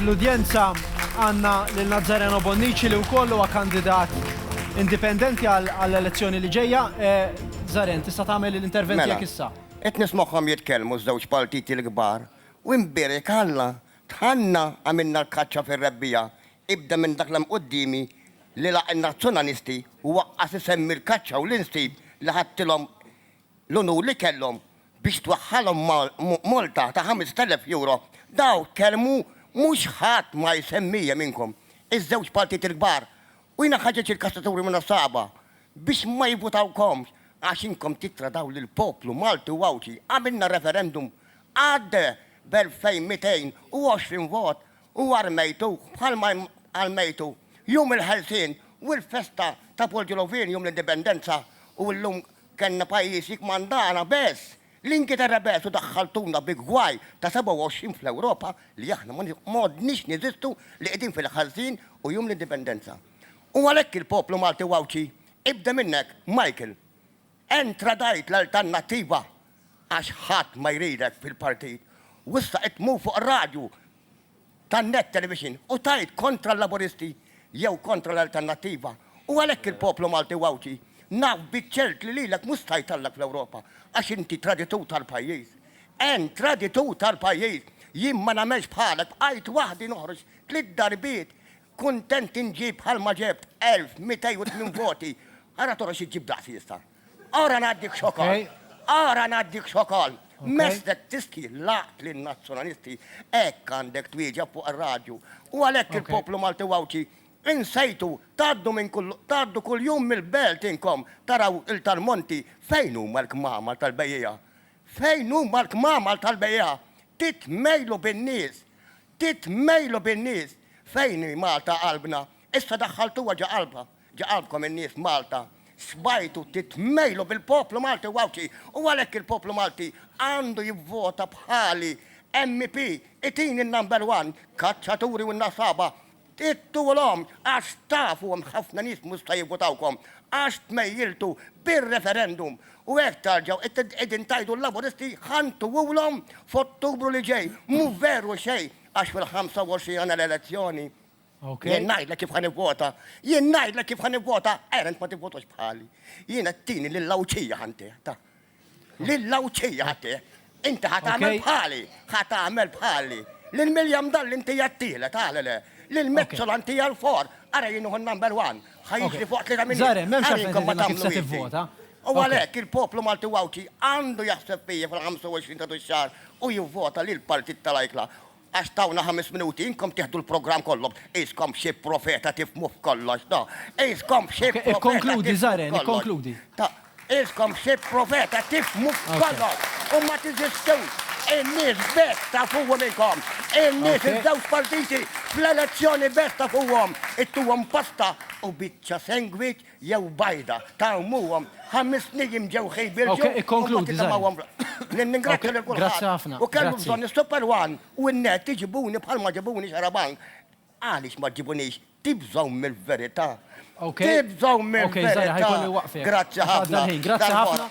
Fl-udjenza għandna lil Nazzareno Bonnici li wkoll huwa kandidat indipendenti għall-elezzjoni li ġejja. Zaren, tista' tagħmel l-intervent tiegħek issa. Mela, qed nismagħhom jitkellmu ż-żewġ partiti l-kbar u nbierek Alla, dħalna għamilna l-kaċċa fir-rebbiegħa, ibda minn dak li hemm quddiemi li laq in-Nazzjonalisti u waqqas isemmi l-kaċċa u l-insib li ħadtilhom l-unur li kellhom biex twaħħalhom multa ta' 5,000 Euro, dawn kelmu mhux ħadd ma jsemmihie minnkom, iż-żewġ partiti l-kbar u jiena ħaġeġ il-kastaturi minn għas-Saba biex ma jivvutawkomx għax inkom tittradaw lill-poplu Malti u Għawdxi, għamilna referendum għadde b'2,220 vot u armejtuh bħalma armejtu Jum il-Ħelsien u l-festa ta' Poljolovieni Jum l-Indipendenza u llum Kellna pajjiż jikkmandana bes! L-Ingilterra bes u daħħaltuna bi gwaj ta' 27 fl-Ewropa li aħna m'għodniex neżistu li qegħdin fil-ħażin u jum l-Indipendenza. U għalhekk il-poplu Malti u Għawdxi ibda minn hekk Michael! Ent tradajt l-Alternattiva għax ħadd ma jridek fil-partit u issa qed tmur fuq ir-radju tan-net television u tgħid kontra l-Laburisti jew kontra l-Alternattiva u għalhekk il-poplu Malti u Għawdxi naf biċ-ċert li lilek mhux se jtellgħek fl-Ewropa għax inti traditur tal-pajjiż. Ent traditur tal-pajjiż! Jien ma nagħmelx bħalek bqajt waħdi noħroġ tliet darbiet kuntent inġib bħalma ġebt 1280 voti ara toħroġ iġġib daqsi issa. Ora ngħaddik x'ukoll. Ora ngħaddik x'ukoll. Mestek tiski laqt lin nazzjonalisti hekk għandek twieġeb fuq ir-radju. U għalhekk il-poplu Malti u Għawdxi insejtu tgħaddu minn kull tgħaddu kuljum mill-belt inkom taraw il-tal-monti fejn huma l-kmamar tal-bejjiegħa. Fejn huma l-kmamar tal-bejjiegħa. Titmejlu bin-nies. Titmejlu bin-nies. Fejn hi Malta qalbna. Issa daħħaltuha ġo qalbha. Ġa għandkom in-nies Malta sbajtu titmejlu bil-poplu Malti u Għawdxi u għalhekk il-poplu Malti għandu jivvota bħali MP itini n-number one kaċċaturi u nasaba ittuwlhom għax tafu hemm ħafna nies mhux se jivvotawkom għax tmejjiltu bir-referendum u hekk tarġgħu qegħdin tgħidu l-Laburisti ħa ntuwulhom f'Ottubru li ġej. Mhu veru xejn għax fil-25 għandna l-elezzjoni. Jien ngħidlek kif ħan ivvota, jien ngħidlek kif ħan ivvota, erent ma tivvotax bħali. Jien qed tini lill-Għawdxija ħantih, ta. Lill-Għawdxija ħattih. Inti ħat tagħmel bħali, ħat tagħmel bħali. Lil Miljam dan l-inti jattile, tagħle le. Lil Mezzol anti għal-for, ara jien uħu number one. Ħajġ li fuq li ta' minni. Zare, memx għafinkom ma tagħmlu ivvota. U għalek, il-poplu Malti Għawdxi għandu jaħseb fija fil-25 ta' xar u jivvota li l-partit tal-ajkla Għax tawna ħames minuti inkom tieħdu l-programm kollu. Qiskom f'xi profeta tifhmu f'kollox, ta'. Qiskom f'xi profeta tifhmu f'kollox. Ikkonkludi, Zaren, ikkonkludi. Ta'. Qiskom f'xi profeta tifhmu f'kollox u ma tiżistux. In-nies best tafuhom inkom. In-nies iż-żewġ partiti fl-elezzjoni best tafuhom. Ittuhom pasta u biċċa sengwiċ jew bajda ta' ommuhom, ħames nijiem ġew ħejbirġu u mbagħad itemgħuhom fl-art. Ningrazzja lil kulħadd u kellu bżonn is-Super One u n-net iġibuni bħal ma ġibuni Xarabank. Għaliex ma ġġibunix? Tibżgħu mill-verità? Tibżgħu mill-verità? Grazzi ħafna.